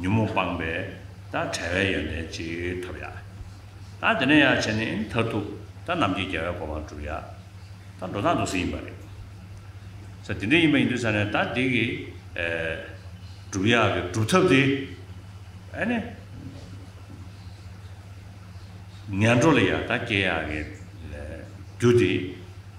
ཉོན་མོངས་སྤངས་པས་ད་བྲལ་བའི་ཡོན་ཏན་གཅིག་ཐོབ་ཡ། ད་དེ་ནས་ཡང་བྱས་ནས་མཐར་ཐུག་ད་ནམ་གྱི་རྒྱལ་བའི་གོ་འཕང་འགྲུབ་ཡ། ད་འགྲོ་སྟངས་འདུག་ཟིན་ཡིན་པ་རེད། ས་དེ་འདྲ་ཡིན་པ་ཡིན་དུས་ས་ནས་ད་དེ་གི་འགྲུབ་ཡ་གི་སྒྲུབ་ཐབས་དེ་ཨ་ནི་ངན་འགྲོ་ལ་ཡ་ད་སྐྱེ་ཡ་གི་རྒྱུ་དེ་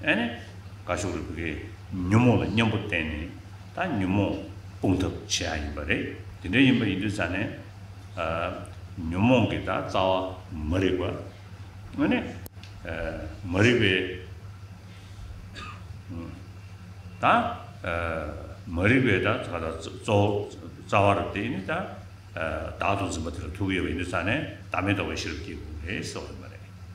ཨེ་ནས། དགའ་ཕྱོགས་རིག་པ་རེད། ཉོན་མོངས་ལ་མཉམ་པོར་བརྟེན་ནས་ད་ཉོན་མོངས་སྤོང་ཐབས་བྱེད་ཡ་ཡིན་པ་རེད། དེ་འདྲ་ཡིན་པ་ཡིན་དུས་ད་ནས། ཉོན་མོངས་ཀྱི་ད་རྩ་བ་མ་རིག་པ། ཨེ་ནས། མ་རིག་པའི། ད། མ་རིག་པའི་ད་ག་ད་གཙོ་བོ་རྩ་བ་རུ་བརྟེན་ནས་ད། བདག་ཏུ་འཛིན་པ་དེ་ལ་ཐུག་ཡོད་པ་ཡིན་དུས་ད་ནས་བདག་མེད་རྟོགས་པའི་ཤེས་རབ་སྐྱེ་དགོས་པ་རེད་ཟེར་བ་ཡིན་པ་རེད།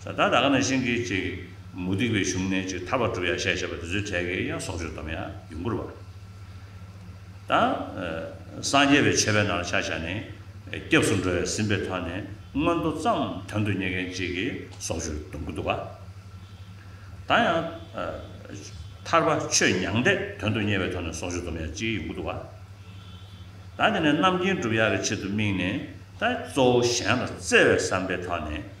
ས་བདག་བདག་ག་ནས་ཤིང་གིས་ཅིག། མུ་སྟེགས་པའི་གཞུང་ནས་ཅིག་ཐར་བར་གྲུབ་ཡང་ཤས་ཆེ་བ་དེ་ཚོའི་གྲས་ཀྱི་ཡང་སྲོག་གཅོད་དམ་ཡང་ཡུམ་བཀུར་བ། དང། སངས་རྒྱས་པའི་ཆོས་པའི་ནང་ལ་ཆ་བཞག་ནས། སྐྱབས་སུ་འགྲོ་བའི་ཟིན་པའི་ཐོག་ནས་མངོན་མཐོ་ཙམ་དོན་དུ་གཉེར་མཁན་ཅིག་གི་སྲོག་གཅོད་སྡོམ་དགོས་འདུག་ག། དང་ཡང། ཐར་པ་ཆོས་མྱང་འདས་དོན་དུ་གཉེར་བའི་ཐོག་ནས་སྲོག་གཅོད་སྡོམ་ཡང་ཅིག་ཡོང་གི་འདུག་ག། དང་དེ་ནས་རྣམ་མཁྱེན་གྲུབ་ཡག་གི་ཆེད་དུ་དམིགས་ནས། དང་གཙོ་བོ་གཞན་ལ་བརྩེ་བའི་བསམ་པའི་ཐོག་ནས།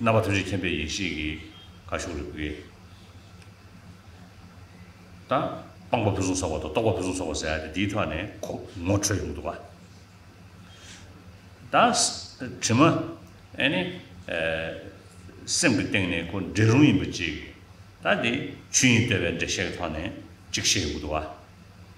རྣམ་པ་ཐུན་རྗེ་མཁྱེན་པའི་ཡེ་ཤེས་ཀྱི་ཁ་ཤོག་རིག་པའི་རྟགས། སྤངས་པ་ཕུན་སུམ་ཚོགས་པ་དང་རྟོགས་པ་ཕུན་སུམ་ཚོགས་པ་ཟེར་ཏེ་དེའི་ཐོག་ནས་ངོ་འཕྲོད་ཡོང་འདུག་ག་ད་དྲི་མ་ཨེ་ནི་སེམས་ཀྱི་སྟེང་ནས་ཁོ་འདྲེ་རུང་ཡིན་པ་གཅིག་ད་དེ་ཆོས་དབྱིངས་བསྟོད་པའི་འགྲེལ་བཤད་ཀྱི་ཐོག་ནས་གཅིག་བཤད་ཡོང་གི་འདུག་ག།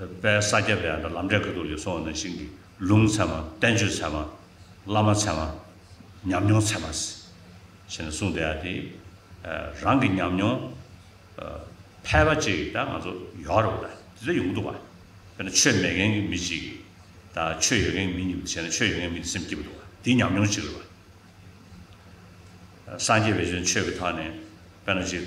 དཔལ་ས་སྐྱ་པའི་ལམ་འབྲས་ཁ་ཐུག་ལེགས་སོ་ནང་བཞིན་གྱི་ལུང་ཚད་མ་བསྟན་བཅོས་ཚད་མ། བླ་མ་ཚད་མ། ཉམས་མྱོང་ཚད་མ། ཞེས་གསུངས་བསྡད་ཡ་དེ། རང་གི་ཉམས་མྱོང། ཕལ་པ་ཅིག་ད་ང་ཚོ་ཡོད་རེད་ད་དེ་འདྲ་ཡོང་གི་འདུག་བ། དཔེར་ན་ཆོས་མེད་མཁན་གྱི་མི་ཅིག་གིས་ད་ཆོས་ཡོད་མཁན་གྱི་མི་གཉིས་པོ་དེ་བྱས་ན་ཆོས་ཡོད་མཁན་གྱི་མི་དེ་སེམས་སྐྱིད་པོ་འདུག་བ་དེ་ཉམས་མྱོང་ཅིག་རེད་བ། སངས་རྒྱས་བས་ཆོས་ཀྱི་ཐང་ནས་དཔེར་ན་ཅིག།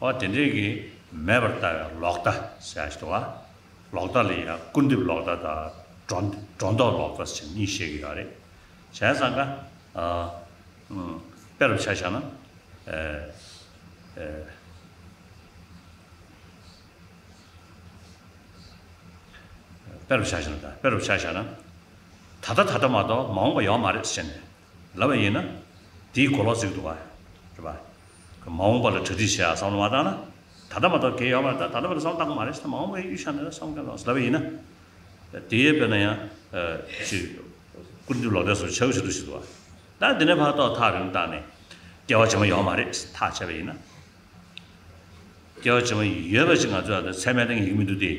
འོ་དེ་འདྲས་ཀྱིས་མེད་པར་ལྟ་བའི་ལོག་ལྟ་ཞེས་བྱ་བ། ལོག་ལྟ་ལ་ཡང་སྐུར་འདེབས་ལོག་ལྟ་དང་སྒྲོ་འདོགས་ལོག་ལྟ་ཞེས་གཉིས་བཤད་ཀྱི་ཡོད་རེད། གཞན་ས་འགའ། དཔེ་རུ་བྱ་བྱ་ན། དཔེ་རུ་བྱ་བྱ་ན། ད་ལྟ་ད་ལྟ་མ་གཏོགས་མ་འོངས་པ་ཡོད་མ་རེད་ཟེར་ནས། ལབ་པ་ཡིན་ན། དེའི་གོ་ལོག་ཅིག་ཏུ་བ། རེད་པ། མ་འོངས་པ་ལ་གྲ་སྒྲིག་བྱས་ཡག་བསམ་བློ་མ་བཏང་ན། ད་ལྟ་མ་གཏོགས་གལ་ཡོད་པ་རེད་ད་ལྟ་བར་དུ་བསམ་བློ་བཏང་གི་མ་རེད་ས་མ་འོངས་པའི་གཡུལ་ཞག་ནས་བསམ་ག་ལ་ལབ་པ་ཡིན་ན། དེའི་དཔེར་ན་ཡང། ཅིག། ཀུན་འདུས་ལོག་ལྟའི་སོར་ཆག་གི་ཕྱིར་དུ་ཞིག་ཏུ་བ། ད་འདི་ནས་བར་ཏོག་ཐག་རིང་བཏང་ནས། སྐྱེ་བ་ཕྱི་མ་ཡོད་མ་རེད་ཐག་བཅད་པ་ཡིན་ན། སྐྱེ་བ་ཕྱི་མ་ཡོད་པ་ཅིག་ང་ཚོའི་ཨ་མདོའི་ཚད་མའི་སྟེང་ཡིག་མི་འདུག་སྟེ།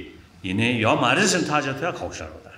ཡིན་ནའི་ཡོད་མ་རེད་ཟེར་ནས་ཐག་བཅད་ཐུ་ཡག་ཁག་པོ་ཤར་རོགས་ད།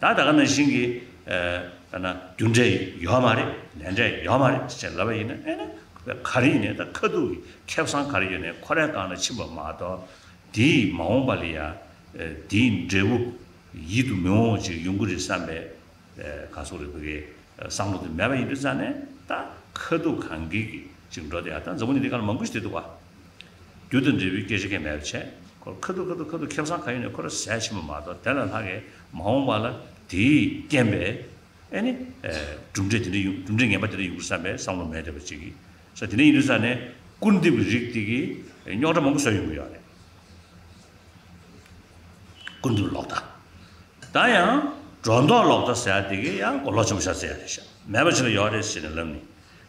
ད་ད་ག་ནང་བཞིན་གྱི་ད་ན་རྒྱུ་འབྲས་ཡོད་མ་རེད་ལས་འབྲས་ཡོད་མ་རེད་ཅེས་ལབ་པ་ཡིན་ན་ཨེ་ན་ག་རེ་ཡིན་ནས་ད་ཁ་སྡུག་གི་ཁེ་བཟང་ག་རེ་ཡོད་ནས་ཁོ་རའི་སྒང་ལ་ཕྱིན་པ་མ་གཏོགས་དེས་མ་འོངས་པ་ལ་ཡང་དེའི་འབྲས་བུ་ཡིད་དུ་མི་འོང་ཅིག་ཡོང་གི་རེད་བསམ་པའི་ག་ཟུག་རེ་བོད་རྒྱའི་བསམ་བློ་དེ་མེད་པ་ཡིན་དུས་ཙང་ནས་ད་ཁ་སྡུག་གང་གིས་ཀྱིས་ཅིག་འགྲོ་དེ་ཡང་ད་འཛམ་བུ་གླིང་འདི་ག་ལ་མང་པོ་ཞིག་བསྡད་འདུག་བ། རྒྱུ་དང་འབྲས་བུའི་སྐྱོན་ཆ་ཁས་མེད་པར་བྱས། ཁོ་ར་ཁ་ཐུག་ཁ་ཐུག་ཁ་ཐུག་ཁེབས་བཟང་ཁ་ཡོད་ནས་ཁོ་ར་ཟས་ཕྱི་མ་མ་གཏོགས་དེ་ལ་ལྷག་གི་མ་འོངས་པ་ལ་དེས་རྐྱེན་པས་ཨེ་ནི། གྲུབ་འབྲས་དེ་འདྲ་ཡོང་གྲུབ་འབྲས་ངན་པ་དེ་འདྲ་ཡོང་གི་བསམ་པའི་བསམ་བློ་མེད་དེ་བ་ཅིག་གི་ས་དེ་འདྲ་ཡིན་དུས་ས་ནས་སྐུར་འདེབས་ཀྱི་རིགས་དེ་གི་རྙོག་དྲ་མང་པོ་བཟོ་ཡོང་གི་ཡོད་རེད། སྐུར་འདེབས་ལོག་ལྟ་ད་ཡང་སྒྲོ་འདོགས་ལོག་ལྟ་ཟེར་བ་དེ་གི་ཡང་གོ་ལོག་ཆེན་པོ་བཞག་རྩིས་ཡག་རེད་བཞག་མེད་པ་ཅིག་ལ་ཡོད་རེད་ཟེར་ནས་ལབ་ནི།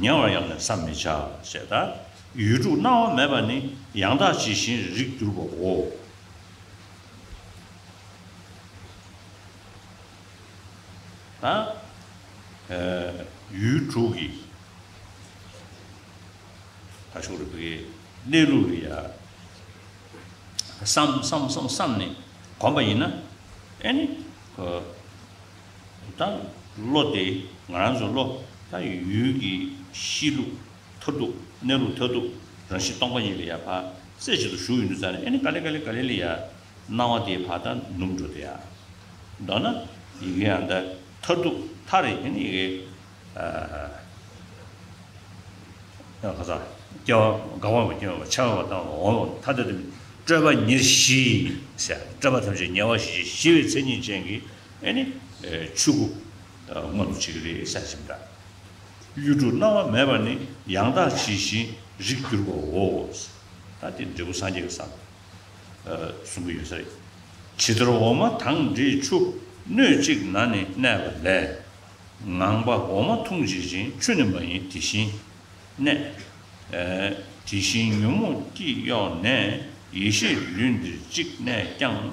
ཉེ་བར་ཡང་ནི་བསམ་མི་བྱ། ཞེས་དང། ཡུལ་དྲུག་སྣང་བ་མེད་པ་ནི་ཡང་དག་ཇི་བཞིན་རིགས་གྱུར་པའོ། དང། ཡུལ་དྲུག་གི། ཁ་ཤོར་བའི་གནས་ལུགས་ལ་ཡང། བསམ་བསམ་བསམ་བསམ་ནས་གོམས་པ་ཡིན་ན། ཨེ་ནི། ད་བློ་བདེ། ང་རང་ཚོའི་བློ་ད་ཡུལ་གྱི་གཤིས་ལུགས་མཐར་ཐུག་གནས་ལུགས་མཐར་ཐུག་རང་བཞིན་སྟོང་པ་ཉིད་ལ་ཡ་བར་རྩེ་གཅིག་ཏུ་ཞུགས་ཡོད་འདུག་ཙང་ནས་ཨེ་ནི་ག་ལེ་ག་ལེ་ག་ལེ་ལི་ཡ། སྣང་བ་དེའི་བར་ད་ནུབ་འགྲོ་དེ་ཡ། མདོར་ན་ཡི་གེ་ཡང་ད་མཐར་ཐུག་མཐའ་རེ་ཨེ་ནི་ཡི་གེ། ཨ། ཁ་ཚ། སྐྱེ་བ་འགག་བ་མ་སྐྱེ་བ་མ་འཆར་བ་དང་འོང་བ་མཐའ་དེ་དུ་མི། སྤྲོས་པ་ཉེར་བཞི། སྤྲོས་པ་ཐམས་ཅད་ཉེ་བར་ཞི་བྱེད་ཞི་བའི་མཚན་ཉིད་ཅན་གྱི། ཨེ་ནི། ཆོས་སྐུ། མངོན་དུ་བྱེད་ཀྱི་རེད་བསམ་གྱི་མི་འདྲ། གཡུ་འབྲུག་སྣང་བ་མེད་པར་ནི་ཡང་དག་ཇི་བཞིན་རིག་གྱུར་པའོ། ད་དེ་འབྲས་བུ་སངས་རྒྱས་ཀྱི་ས་ལ་གསུང་གི་ཡོད་ས་རེད། ཇི་ལྟར་འོ་མ་དང་འདྲིས་ཆུ་སྣོད་གཅིག་ན་ནི་གནས་པ་ལས། ངང་པ་འོ་མ་འཐུང་ཇི་བཞིན་ཆུ་ནི་མ་ཡིན་དེ་བཞིན་གནས། དེ་བཞིན་ཉོན་མོངས་སྐྱི་གཡོགས་ནས་ཡེ་ཤེས་ལུས་འདིར་གཅིག་གནས་ཀྱང།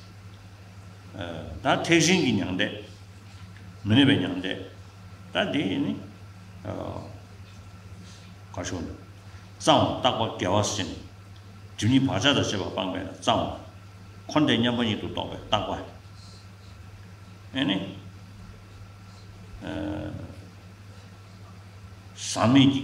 ད་ཐེག་ཆེན་གྱི་མྱང་འདས། མི་གནས་པའི་མྱང་འདས། ད་དེ་ནི། གར་ཤོག་འདི། གཙང་བ་རྟག་པ་དགེ་བ་སེམས། སྒྲིབ་གཉིས་བག་ཆགས་དང་བཅས་པ་སྤངས་པས་ན་གཙང་བ། འཁོར་འདས་མཉམ་པ་ཉིད་དུ་རྟོགས་པའི་རྟག་པ། ཨེ་ནི། ཟག་མེད་ཀྱི།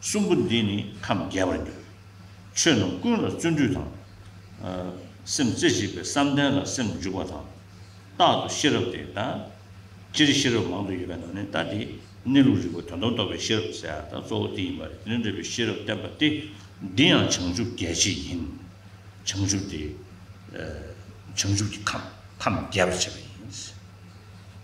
གསུམ་པོ་འདིས་ནི་ཁམས་རྒྱས་པར་འགྱུར། ཆོས་རྣམས་ཀུན་ལ་བརྩོན་འགྲུས་དང། སེམས་རྩེ་གཅིག་པའི་བསམ་གཏན་ལ་སེམས་འཇུག་པ་དང། རྟག་ཏུ་ཤེས་རབ་དེ་ལྟ་སྤྱིར་ཤེས་རབ་མང་དུ་ཡོད་པའི་ནང་ནས་ལྟ་དེ་གནས་ལུགས་རིག་པ་དོན་སྟོང་རྟོགས་པའི་ཤེས་རབ་ཟེར་བ་དང་གཙོ་བོ་དེ་ཡིན་པ་རེད་དེ་ནི་འབྲས་བུའི་ཤེས་རབ་བསྟན་པ་སྟེ། འདི་ཡང་བྱང་ཆུབ་རྒྱལ་བྱེད་ཡིན། བྱང་ཆུབ་དེ། བྱང་ཆུབ་ཀྱི་ཁམས་ཁམས་རྒྱས་པར་བྱེད་པ་ཡིན།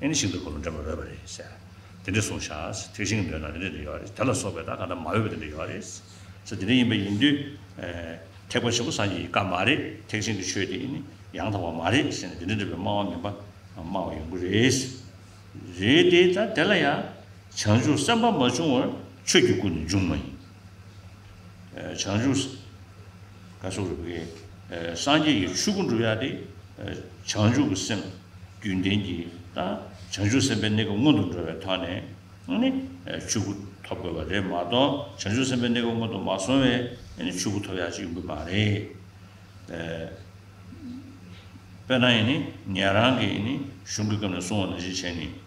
ཨེ་ནི་ཤིན་ཏུ་འཁོར་ལོ་འདྲེན་པར་འོས་པ་རེད། ཟེར། དེ་འདྲས་གསུངས། ཤཱས། ཐིག་ཤིང་གི་མདོའི་ནང་དེ་འདྲས་དེ་ཡོད་རེད། དེ་ལ་སོགས་པའི་ད་ག་ད་མ་འོས་པ་དེ་འདྲས་ཡོད་རེད། ཟེར། དེ་འདྲས་ཡིན་པ་ཡིན་དུས། ཐེག་པ་ཆེན་པོ་སངས་རྒྱས་ཀྱི་བཀའ་མ་རེད། ཐེག་ཆེན་གྱི་ཆོས་དེ་ཨེ་ནི་ཡང་དག་པ་མ་རེད། ཟེར་ནས་དེ་འདྲས་འདྲ་བའི་སྨྲ་བ་མིན་པ་སྨྲ་བ་ཡོང་གི་རེད། རེད་དེ། ད་དེ་ལ་ཡང། བྱང་ཆུབ་སེམས་དཔའ་མ་བྱུང་བར་ཆོས་ཀྱི་སྐུ་ནི་འབྱུང་མ་ཡིན། བྱང་ཆུབ། བཀའ་སྲུང་རིག་པའི་སངས་རྒྱས་ཀྱི་ཆོས་སྐུ་འགྲུབ་ཡག་སྟེ། བྱང་ཆུབ་ཀྱི་སེམས་རྒྱུན་ལྡན་གྱི་དང་བྱང་ཆུབ་སེམས་དཔའི་གནས་སྐབས་སྔོན་དུ་འགྲོ་བའི་ཐོག་ནས་ནི་ཆོས་སྐུ་ཐོབ་དགོས་པ་རེད་མ་གཏོགས་བྱང་ཆུབ་སེམས་དཔའི་གནས་སྐབས་སྔོན་དུ་མ་སོང་བས་ནི་ཆོས་སྐུ་ཐོབ་ཡག་ཅིག་ཡོང་གི་མ་རེད། དཔེར་ན་ཡིན་ནི་ངེད་རང་གིས་ནི་གཞུང་གི་སྐབས་ནས་བསྲུང་བ་ནང་བཞིན་བྱས་ནས།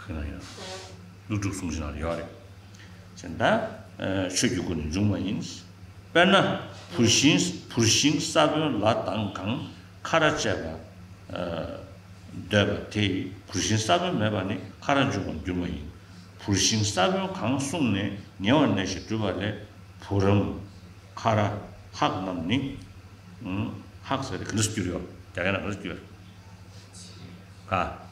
ཁྱོད་ལ་ཡོད། ཀླུ་སྒྲུབ་གསུང་བཞིན་ལ་ཡོད་རེད། ཅེས་འདའ། ཆོས་ཀྱི་སྐུ་ནི་འབྱུང་བ་ཡིན། དཔེར་ན། བུར་ཤིང་བུར་ཤིང་ས་བོན་ལ་དང་གང་ཁ་ར་བཅད་པ། འདོད་པ་དེ་ཡིས་བུར་ཤིང་ས་བོན་མེད་པ་ནི་ཁ་ར་འབྱུང་བར་འགྱུར་བ་ཡིན། བུར་ཤིང་ས་བོན་གང་བསྲུངས་ནས་ཉེ་བར་གནས་ཤིང་བྲུས་པ་ལས་བུ་རམ། ཁ་ར། ཧག་རྣམས་ནི། ཧག་ཟེར་ནི་ག་འདྲ་སུ་སྐྱུར་ཡོད། རྒྱ་སྐད་ན་ག་འདྲ་སྐྱུར། ཧ།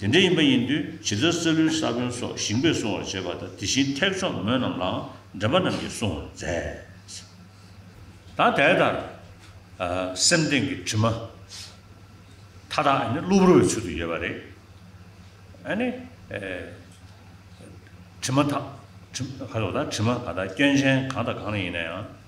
དེ་འདྲ་ཡིན་པ་ཡིན་དུས་ཇི་ལྟར་སཱི་ལུའི་ས་བོན་སོགས་ཞིང་པས་སྲུང་བར་བྱེད་པ་དང་དེ་བཞིན་ཐེག་མཆོག་མོ་རྣམས་ལའང་འདྲེན་པ་རྣམས་ཀྱིས་སྲུང་བར་མཛད། དང་དེ་ལྟར། སེམས་སྟེང་གི་དྲི་མ། མཐའ་དག་ནི་གློ་བུར་བའི་ཚུལ་དུ་ཡོད་པ་རེད། ཨ་ནི། དྲི་མ་དག། དྲི་མ་གང་དག་སྐྱོན་ཅན་གང་དང་གང་ཡིན་ན་ཡང།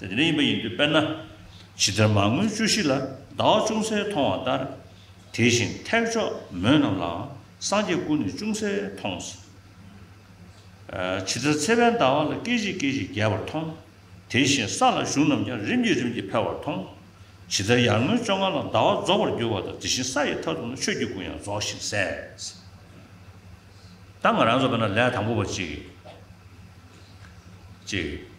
དེ་འདྲ་ཡིན་པ་ཡིན་དུས་དཔེར་ན། ཇི་ལྟར་མར་ངོའི་བཅུ་བཞི་ལ་བདག་ཅུང་ཟད་མཐོང་བ་ལྟར། དེ་བཞིན་ཐེག་མཆོག་མོས་རྣམས་ལའང་སངས་རྒྱས་ཀུན་ནས་ཅུང་ཟད་མཐོང། ཇི་ལྟར་ཚེ་དཔལ་ཟླ་བ་ལ་སྐད་ཅིག་སྐད་ཅིག་རྒྱས་པར་མཐོང། དེ་བཞིན་ས་ལ་བཞུགས་རྣམས་ཀྱང་རིམ་གྱིས་རིམ་གྱིས་འཕེལ་བར་མཐོང། ཇི་ལྟར་ཡར་ངོའི་བཅོ་ལྔ་ལ་ཟླ་བ་རྫོགས་པར་འགྱུར་བ་དང་དེ་བཞིན་ས་ཡི་མཐའ་དུ་ན་ཆོས་ཀྱི་སྐུ་ཡང་རྫོགས་ཤིང་གསལ། ད་ང་རང་རྫོགས་པས་ན་ལས་དང་པོ་པ་གཅིག།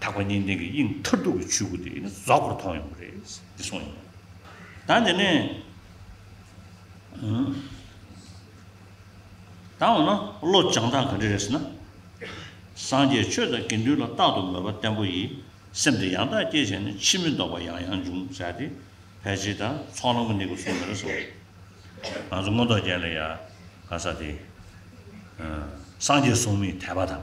དག་པ་གཉིས་ལྡན་གྱི་དབྱིངས་མཐར་ཐུག་གི་ཆོས་སྐུ་དེ་ནི་རྫོགས་པར་མཐོང་ཡོང་གི་རེད། འདི་གསུངས་ཡོད། ད་འདི་ནས། ད་འོ་ན་བློ་སྦྱང་སྟངས་ག་འདྲ་རེད་ཟེར་ན། སངས་རྒྱས་ཆོས་དང་དགེ་འདུན་ལ་རྟག་ཏུ་མོས་པ་བརྟན་པོ་ཡིས་སེམས་དེ་ཡང་དག་བསྐྱེད་བྱས་ནས་ཕྱིས་མི་ལྡོག་པ་ཡང་ཡང་འབྱུང་ཟེར་ཏེ་ཕལ་ཆེར་དང་ཚོགས་ལམ་གྱི་གནད་ཀུན་གསུངས་ཡོད་རེད་ཟེར། ང་ཚོ་མངོན་རྟོགས་ཅན་ལ་ཡང་ག་ས་དེ། སངས་རྒྱས་གསུང་མིའི་དད་པ་དང།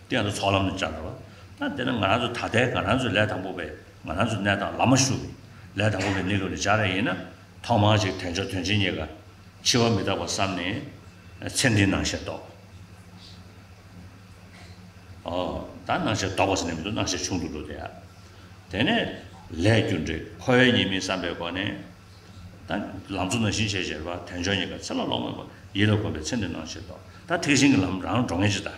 གཏན་དུ་ཚོགས་ལམ་ནས་བཅར་བ། ད་དེ་ནི་ང་རང་ཚོ་ད་ལྟའི་ང་རང་ཚོའི་ལས་དང་པོ་བས་ང་རང་ཚོའི་གནས་དང་ལམ་མ་ཞུགས། ལས་དང་པོ་བས་གནས་ལུགས་ནས་སྦྱར་རན་ཡིན་ན། ཐོག་མར་ཅིག་དལ་འབྱོར་དོན་ཆེན་རྙེད་དཀའ། འཆི་བ་མི་རྟག་པར་བསམ་ནས། ཚེ་འདི་སྣང་ཞེས་རྟོགས། ད་སྣང་ཞེས་རྟོགས་པ་ཟེར་ནས་མི་འདུག་སྣང་ཞེས་ཆུང་དུ་འགྲོ་དེ་ཡ། དེ་ནས། ལས་རྒྱུ་འབྲས་འཁོར་བའི་ཉེས་དམིགས་བསམ་པའི་སྒོ་ནས། ད། ལང་ཚོ་ན་བཞིན་ཞེས་བཞེར་བ་དལ་འབྱོར་རྙེད་དཀའ་ཚེ་ལ་ལོག་མེད་པར་ཡིད་ལ་གོམས་པའི་ཚེ་འདི་སྣང་ཞེས་རྟོགས། ད་ཐེག་ཆེན་གྱི་ལམ་རང་འགྲོ་ངེས་ཅི་ལྟ།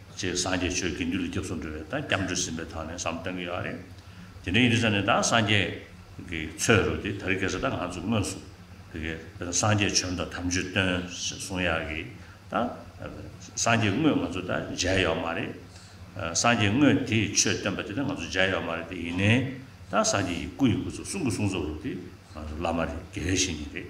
ཅེས་སངས་རྒྱས་ཆོས་དགེ་འདུན་ལ་སྐྱབས་སུ་འགྲོ་བའི་དང་སྐྱབས་འགྲོ་ཟིན་པའི་དག་ནས་སམ་བསྟན་གྱི་ཡོད་རེད། དེ་འདྲའི་ཡིན་ས་ནི་དང་སངས་རྒྱས་ཀྱི་ཆོས་རུ་དེ་ད་རེས་སྐད་ཆ་དང་ང་ཚོས་དངོས་སུ་དེ་གའི་དང་སངས་རྒྱས་བྱོན་དང་དམ་ཆོས་སྟོན་ཞེས་གསུང་ཡག་གི་དང། སངས་རྒྱས་དངོས་ང་ཚོ་དང་མཇལ་ཡོག་མ་རེད། སངས་རྒྱས་དངོས་དེས་ཆོས་སྟོན་པ་དེ་དང་ང་ཚོ་མཇལ་ཡོག་མ་རེད་དེ་ཡིན་ནའི་དང་སངས་རྒྱས་ཀྱི་སྐུ་ཡི་སྐུ་ཚོགས་གསུང་གི་གསུང་ཚོགས་རུ་དེ་ང་ཚོ་བླ་མ་རེད་དགེ་བའི་བཤེས་གཉེན་རེད།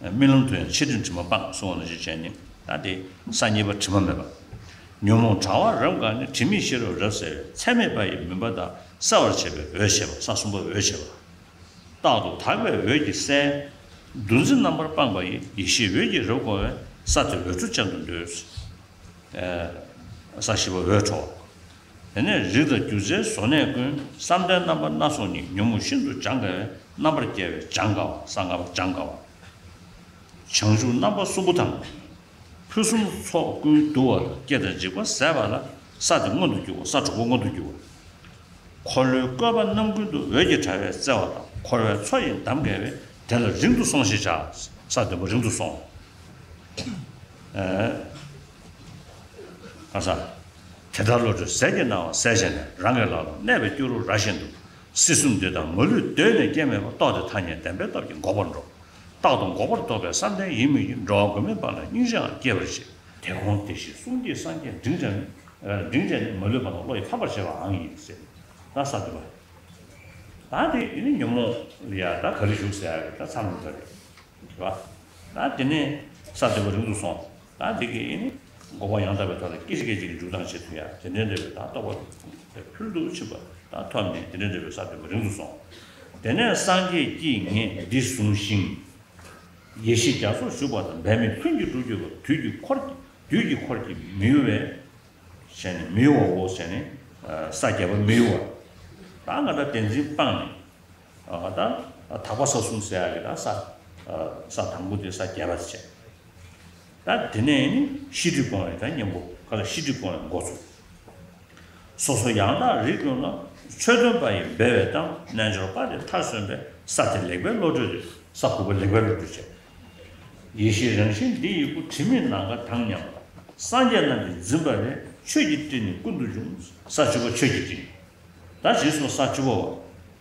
རྨི་ལམ་དུ་ཡང་ཕྱི་དྲོའི་དྲི་མ་སྤངས་གསུང་བ་ལ་ཞེས་བྱའི་ནི་ད་དེ་ས་གཉིས་པ་དྲི་མ་མེད་པ། ཉོན་མོངས་དྲ་བ་རབ་འགགས་ནས་དྲི་མེད་ཤེས་རབ་རབ་གསལ་བའི་ཚད་མེད་པ་ཡི་མུན་པ་དག་གསལ་བར་བྱེད་པའི་འོད་བྱེད་པ་ས་གསུམ་པ་འོད་བྱེད་པ། རྟག་ཏུ་དག་པའི་འོད་ཀྱིས་གསལ། འདུ་འཛི་རྣམ་པར་སྤངས་པ་ཡི་ཡེ་ཤེས་འོད་ཀྱིས་རབ་བསྐོར་བས་ས་དེ་འོད་འཕྲོ་ཅན་དུ་འདོད། ས་བཞི་པ་འོད་འཕྲོ་བ། དེ་ནས་རིགས་དང་རྒྱུ་རྫས་བཟོ་གནས་ཀུན་བསམ་གཏན་རྣམ་པ་སྣ་ཚོགས་ཉིད་ཉོན་མོངས་ཤིན་ཏུ་སྦྱང་དཀའ་བའི་རྣམ་པར་རྒྱལ་བའི་སྦྱང་དཀའ་བ་གསང་དཀའ་བ་སྦྱང་དཀའ་བ། བྱང་ཆུབ་རྣམ་པ་གསུམ་པོ་དང། ཕུན་སུམ་ཚོགས་ཀུན་བསྡུ་བ་ལ་སྐྱེ་དང་འཇིག་པ་ཟད་པ་ལ་ས་དེ་མངོན་དུ་འགྱུར་བ་ས་དྲུག་པོ་མངོན་དུ་འགྱུར་བ། འཁོར་ལོའི་བཀོད་པ་རྣམ་ཀུན་ཏུ་འོད་ཀྱི་དྲ་བས་བརྩེ་བ་དང་འཁོར་བའི་མཚོ་ཡི་འདམ་བརྒལ་བས་དེ་ལ་རིང་དུ་སོང་ཞེས་བྱ། ས་བདུན་པོ་རིང་དུ་སོང། ཁ་སང། དེ་ལྟར་བློ་གྲོས་ཟད་ཀྱི་སྣང་བ་གསལ་བྱས་ནས་རང་གི་ལག་ཏུ་གནས་པའི་སྐྱུ་རུ་ར་བཞིན་དུ། སྲིད་གསུམ་འདུས་དང་མ་ལུས་གདོད་ནས་སྐྱེ་མེད་པ་རྟོགས་ཏེ་ཐ་སྙད་བདེན་པའི་སྟོབས་ཀྱིས་འགོག་པར་འགྲོ། རྟག་ཏུ་འགོག་པར་རྟོགས་པའི་བསམ་གཏན་ཡིན་མོད་ཀྱི་འགྲོ་བ་མགོན་མེད་པ་ལ་སྙིང་རྗེའང་སྐྱེད་པར་བྱེད། དེ་གོང་དེ་བཞིན་གསུང་གི་སངས་རྒྱས་འབྲིང་བྲལ། འབྲིང་བྲལ་ནི་མ་ལུས་པ་དང་བློ་ཡིས་ཕམ་པར་བྱེད་པའང་ཡིན་ཟེར། ད་ས་དུ་བ། ད་དེ་ནི་ཉོན་མོངས་ལ་ཡ་ད་ག་རེ་བཞུགས་ཟེར་ད་ཚར་འདུག་ག་རེ་བ། ད་དེ་ནས་ས་དུ་བ་རིང་དུ་སོང། ད་དེ་གའི་དགོངས་པ་ཡང་དག་པའི་ཐོག་ནས་སྐད་ཅིག་སྐད་ཅིག་གིས་འཇུག་ལྡང་བྱེད་ཐུབ་ཡ་དེ་འདྲའི་འབྲེལ་བའི་དང་རྟོགས་པ་དེ་ཁུང་དེར་ཕུལ་འདུག་ཕྱིན་པ་དང་ཐོབ་ནས་དེ་འདྲའི་འབྲེལ་བའི་ས་བོན་མ་རིང་དུ་སོང། དེ་ནས་སངས་རྒྱས་ཀྱིས་ངས་འདི་བཟུང་ཞིང། ཡེ་ཤེས་རྒྱ་མཚོར་ཞུགས་པ་དང་འབད་མེད་ལྷུན་གྱིས་འགྲུབ་འགྱུར་བ་དུས་ཀྱི་འཁོར་དུས་ཀྱི་འཁོར་གྱི་མི་གཡོ་བས་བྱས་ནས་མི་གཡོ་བའོ་བྱས་ནས་ས་བརྒྱད་པ་མི་གཡོ་བ། ད་ང་སྒྲ་དེ་འཛིན་སྤངས་ནས། ད་དག་པ་ས་གསུམ་ཟད་ཡ་གི་ད་ས། ས་དང་པོ་དེ་ས་བརྒྱད་པ་བྱས། ད་དེ་ནས་ནི་ཤི་ཀྲི་སྤོང་བའི་ད་གཉེན་པོ་ག་ལ་ཤི་ཀྲི་སྤོང་བའི་འགོ་ཚུགས། སོ་སོ་ཡང་དག་རིག་ཀུན་ལ་ཆོས་སྟོན་པ་ཡི་འབེལ་བའི་གཏམ་རྣལ་འབྱོར་པ་དེ་མཐར་སོན་པའི་ས་དེ་ལེགས་པའི་བློ་གྲོས་དེ་ས་ཕུར་པ་ལེགས་པའི་བློ་གྲོས་བྱས། ཡེ་ཤེས་རང་བཞིན་འདི་ཡི་སྐུ་དྲི་མེད་ནམ་མཁའ་དང་མཉམ། སངས་རྒྱས་རྣམས་ཀྱི་འཛིན་པ་ལས་ཆོས་ཀྱི་སྤྲིན་ནི་ཀུན་ཏུ་འབྱུང། ས་བཅུ་པ་ཆོས་ཀྱི་སྤྲིན། ད་ཇི་སྲུང་ས་བཅུ་པོ་བ།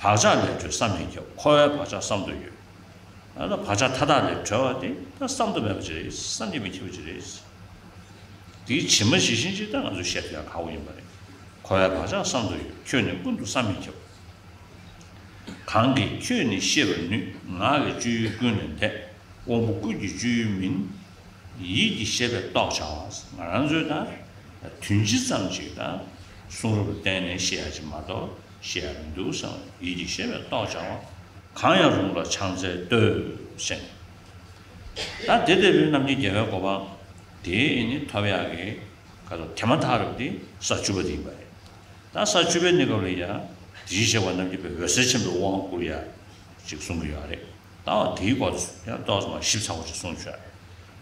བག་ཆགས་ལས་གྲོལ་བསམ་མི་ཁྱབ་འཁོར་བའི་བག་ཆགས་བསམ་དུ་ཡོད། ད་ལྟ་བག་ཆགས་མཐའ་དག་ལས་གྲོལ་བ་དེ་ད་བསམ་དུ་མེད་པ་ཅི་རེད་བསམ་གྱིས་མི་ཁྱབ་པ་ཅི་རེད། དེའི་ཕྱི་མ་ཇི་བཞིན་ཅིག་ད་ང་ཚོས་བཤད་དུ་ཡང་ཁག་པོ་ཡིན་པ་རེད། འཁོར་བའི་བག་ཆགས་བསམ་དུ་ཡོད་ཁྱོད་ནི་ཀུན་ཏུ་བསམ་མི་ཁྱབ། གང་གིས་ཁྱོད་ནི་ཤེས་པར་ནུས་ངག་གི་སྤྱོད་ཡུལ་ཀུན་ལས་འདས། དབང་པོ་ཀུན་གྱི་སྤྱོད་ཡུལ་མིན། ཡིད་ཀྱི་ཤེས་པས་རྟོགས་བྱ་བ་ང་རང་ཚོའི་ད་དུས་ཇི་ཙམ་ཅིག་ད་གསུང་རབ་ལ་བརྟེན་ནས་ཤེས་ཡ་ཅིག་མ་གཏོགས། ཞེས་མི་འདུག་སེམས་ལ་ཡིད་ཀྱིས་ཤེས་པའི་རྟོག་བྱ་བ། གང་ཡང་རུང་ལ་ཕྱག་འཚལ་བསྟོད། སེམས་ལ་དེ་ལྟ་བུའི་རྣམ་ཤེས་རྒྱལ་བའི་གོ་འཕང། དེས་ནི་ཐབས་ཡག་གི། ཁ་དོག་དེ་མ་ཐག་རབ་སྟེ་ས་བཅུ་པ་དེ་ཡིན་པ་རེད། ད་ས་བཅུ་པའི་གནས་སྐབས་ལ་ཡང། དེ་བཞིན་གཤེགས་པ་རྣམས་ཀྱི་བའི་འོད་ཟེར་ཆེན་པོའི་དབང་བསྐུར་ཡ། ཅིག་གསུང་གི་ཡོད་རེད། ད་འོ་དེའི་སྐོར་ཚོད་ཡང་རྟོག་ཙམ་མ་ཞིབ་ཚགས་པོ་ཅིག་གསུང་ཆོག་རེད།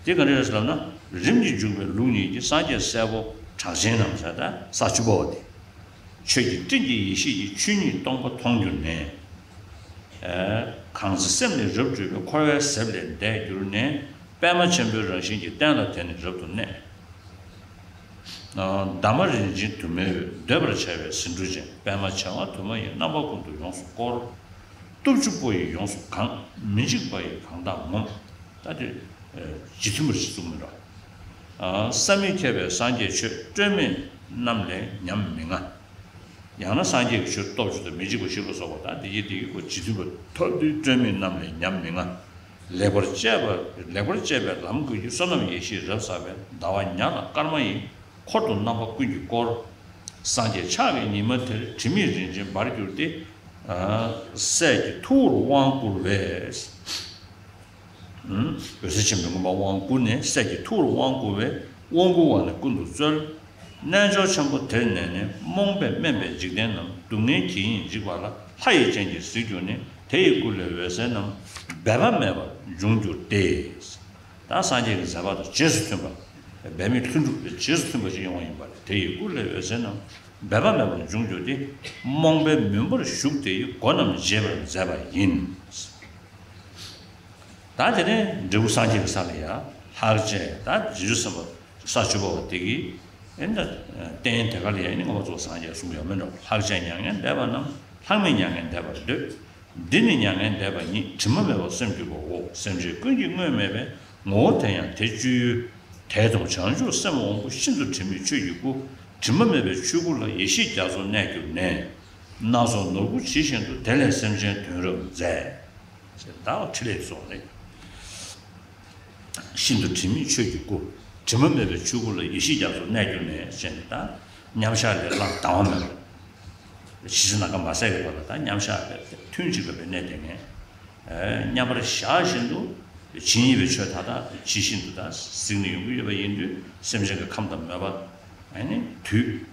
དེ་ག་རེ་རེད་ལབ་ན། རིམ་གྱིས་འཇུག་པའི་ལུགས་ཉིད་ཀྱི་སངས་རྒྱས་སྲས་པོ་གྲགས་ཆེན་ནམ་ས་བཅུ་པའོ་དེ། ཆོས་ཀྱི་སྤྲིན་གྱིས་ཡེ་ཤེས་ཀྱི་ཆོས་ཉིད་སྟོང་པ་མཐོང་གྱུར་ནས། གང་ཚེ་སེམས་ནི་རབ་སྤྲོས་པའི་འཁོར་བའི་གཟེབ་ལས་འདས་གྱུར་ནས། པདྨ་ཆེན་པོའི་རང་བཞིན་གྱི་རྟེན་ལ་དེ་ནི་རབ་ཏུ་གནས། འདབ་མ་རིན་ཆེན་དུ་མའི་འོད་འདོད་པར་བྱ་བའི་ཟེའུ་འབྲུ་ཅན་པདྨ་བྱེ་བ་དུ་མ་ཡི་རྣམ་པ་ཀུན་ཏུ་ཡོངས་སུ་བསྐོར། སྟོབས་བཅུ་པོ་ཡིས་ཡོངས་སུ་གང། མི་འཇིགས་པ་ཡིས་གང་དག་ངོམས། ད་དེ། ཇི་ཐུན་པར་ཅི་ཙུག་མི་རོ། བསམ་མི་ཁྱབ་པའི་སངས་རྒྱས་ཆོས་སྤྲོས་མེད་རྣམས་ལས་ཉམས་མི་ང། ཡང་ན་སངས་རྒྱས་ཀྱི་ཆོས་སྟོབས་བཅུ་དང་མི་འཇིགས་པ་བཞི་ལ་སོགས་པ་དང་དེ་བཞིན་དེ་ཡི་གོ་འབྱེད་མཐུན་པ་ཐོབ་དུས་སྤྲོས་མེད་རྣམས་ལས་ཉམས་མི་ང། ལེགས་པར་སྤྱད་པའི་ལམ་ཀུན་གྱི་བསོད་ནམས་ཡེ་ཤེས་རབ་བསགས་པས་ཟླ་བ་ཉག་དང་སྐར་མ་ཡི་འཁོར་དུ་རྣམ་པ་ཀུན་གྱིས་བསྐོར། སངས་རྒྱས་ཕྱག་གི་ཉི་མ་དེར་དྲི་མེད་རིན་ཆེན་འབར་གྱུར་ཏེ། སྲས་ཀྱི་ཐུ་བོར་དབང་བསྐུར་བས། འོད་ཟེར་ཆེན་པོའི་མགོན་པོ་དབང་བསྐུར་ནས་སྲས་ཀྱི་ཐུགས་ལ་དབང་བསྐུར་བས་དབང་བསྐུར་བ་ནི་ཀུན་ཏུ་སྩོལ། རྣལ་འབྱོར་ཆེན་པོ་དེར་གནས་ནས་རྨོངས་པས་དམན་པའི་འཇིག་རྟེན་རྣམས་སྡུག་བསྔལ་གྱིས་ཡིན་འཇིགས་པ་ལ་ལྷ་ཡི་སྤྱན་གྱིས་གཟིགས་གྱུར་ནས་དེ་ཡི་སྐུ་ལས་འོད་ཟེར་རྣམས་འབད་པ་མེད་པར་འབྱུང་གྱུར་ཏེ། དང་སངས་རྒྱས་ཀྱི་མཛད་པ་དང་རྗེས་སུ་མཐུན་པ། འབད་མེད་ལྷུན་གྲུབ་ཀྱི་རྗེས་སུ་མཐུན་པ་ཞིག་ཡོང་བ་ཡིན་པ་ལས་དེ་ཡི་སྐུ་ལས་འོད་ཟེར་རྣམས་འབད་པ་མེད་པར་འབྱུང་གྱུར་ཏེ། རྨོངས་པའི་མུན་པར་ཞུགས་དེ་ཡི་སྒོ་རྣམས་འབྱེད་པར་མཛད་པ་ཡིན། ད་དེ་ནས་འབྲས་བུ་སངས་རྒྱས་ཀྱི་ས་ལ་ཡང་ལྷར་བཅས་ད་རྗེས་སུ་སེམས་དཔའ་ས་བཅུ་པ་བ་དེ་ཀྱིས་ཨེ་འདྲ། རྟེན་དེ་ག་ལ་ཡང་ནི་ངོ་བོ་གཙོ་བོ་སངས་རྒྱས་གསུངས་ཡོད་མོད་ནོ། ལྷར་བཅས་མྱ་ངན་འདས་པ་རྣམས་ལྷག་མེད་མྱ་ངན་འདས་པར་འདོད། འདི་ནི་མྱ་ངན་འདས་པ་ཉིད་དྲི་མ་མེད་པར་སེམས་བསྡུས་པའོ། སེམས་ཅན་ཀུན་གྱི་སྔོན་མེད་པའི་ངོ་བོ་དེ་ཡང་དེ་བཅུའི་དེ་དང་བྱང་ཆུབ་སེམས་དབང་པོ་ཤིན་ཏུ་དྲི་མེད་ཆོས་ཀྱི་སྐུ། དྲི་མ་མེད་པའི་ཆོས་སྐུ་ལ་ཡེ་ཤེས་རྒྱ་མཚོ་གནས་གྱུར་ནས། སྣ་ཚོགས་ནོར་བུ་ཇི་བཞིན་དུ་དེ་ལས་སེམས་ཅན་དོན་རབ་མཛད། ཅེས་བདག་ལ་ཕྲིན་ལས་སོགས་ལས། ཤིན་ཏུ་དྲི་མེད་ཆོས་ཀྱི་སྐུ། དྲི་མ་མེད་པའི་ཆོས་སྐུ་ལ་ཡེ་ཤེས་རྒྱ་མཚོ་གནས་གྱུར་ནས་ཅེས་ནི་དང་མཉམ་གཞག་ལས་བླང་དང་བ་མེད་པ། ཇི་སྲིད་ནམ་མཁའ་མ་ཟད་ཀྱི་བར་ལ་དང་མཉམ་གཞག་ལས་ཐུན་གཅིག་པའི་གནས་དེ་ངས་མཉམ་པར་གཞག་བཞིན་དུ་ཇི་སྙེད་པའི་ཆོས་མཐའ་དག་ཇི་བཞིན་དུ་དང་གཟིགས་ནས་ཡོང་གི་ཡོད་པ་ཡིན་དུས་སེམས་ཅན་གྱི་ཁམས་དང་མོས་པ་ནི་དུས།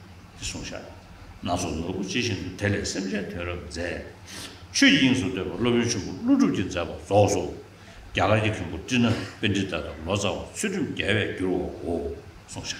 ཀྱི་གསུང་ཤ་སྣ་ཚོགས་ནོར་བུ་ཅི་བཞིན་དུ་དེ་ལས་སེམས་ཅན་དོན་རབ་མཛད། ཆོས་དབྱིངས་སུ་འདོད་པ་སློབ་དཔོན་ཆེན་པོ་ཀླུ་སྒྲུབ་ཀྱིས་མཛད་པ་རྫོགས་སོ། རྒྱ་གར་གྱི་མཁན་པོ་ཀྲི་ན་པཎྜི་ཏཱ་དང་ལོ་ཙཱ་བ་ཚུལ་ཁྲིམས་རྒྱལ་བས་བསྒྱུར་བའོ། གསུང་ཤ།